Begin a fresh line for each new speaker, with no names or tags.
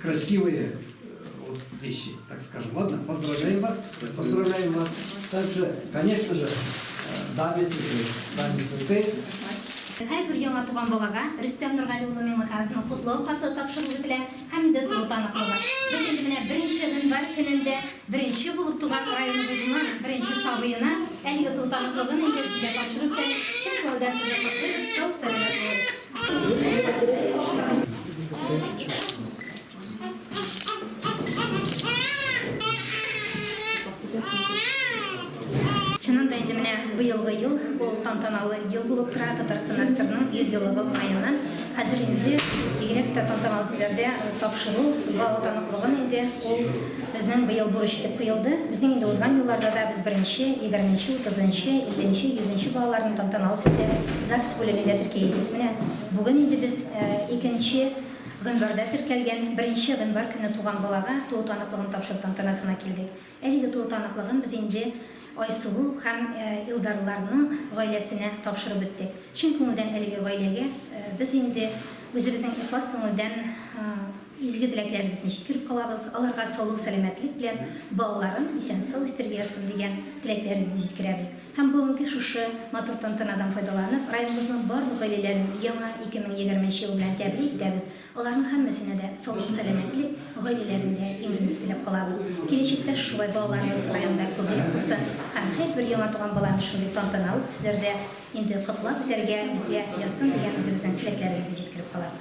Красивые вот, вещи, так скажем. Ладно, поздравляем вас. Спасибо. Поздравляем вас. Также, конечно же, э, даме цветы. Даме цветы.
Һәр бер яңа туган балага Рөстәм Нургали улы Миңлехановның котлау хаты тапшырылып бетелә һәм инде тулы таныклыгы. Без инде менә беренче гыйнвар көнендә беренче булып туган районыбызның беренче сабыена әлеге тулы таныклыгын инде сезгә тапшырып та чын күңелдән сезне котлыйбыз. Сау, сәламәт булыгыз. Чыннан да инде менә быелгы ел ул тантаналы ел булып тора. Татарстан ССРның 100 еллыгы уңаеннан хәзер инде бигрәк тә тантаналы төсләрдә тапшыру бал таныклыгын инде ул Безнең быел бурыч итеп куелды. Без инде узган елларда да без беренче, егерменче, утызынчы, илленче, йөзенче балаларны тантаналы төстә ЗАГС бүлегендә терки идек. Менә бүген инде без икенче гыйнварда теркәлгән беренче гыйнвар көне туган балага туу таныклыгын тапшыру тантанасына килдек. Әлеге туу таныклыгын без инде Айсылу һәм Илдарларның гаиләсенә тапшырып беттек. Чын күңелдән әлеге гаиләгә без инде үзебезнең ихлас күңелдән Изге теләкләрегезне җиткереп калабыз, аларга саулык-сәламәтлек белән балаларын исән-сау үстереп яссын дигән теләкләрегезне җиткерәбез һәм бүгенге шушы матур тантанадан файдаланып, районыбызның барлык гаиләләрен яңа 2020 нче ел белән тәбрик итәбез, аларның һәммәсенә дә саулык-сәламәтлек, гаиләләрендә иминлек теләп калабыз. Киләчәктә шулай балаларыбыз районда күбрәк булсын һәм һәрбер яңа туган баланы шундый тантаналы төсләрдә инде котлап үтәргә безгә язсын дигән үзебезнең теләкләребезне җиткереп калабыз.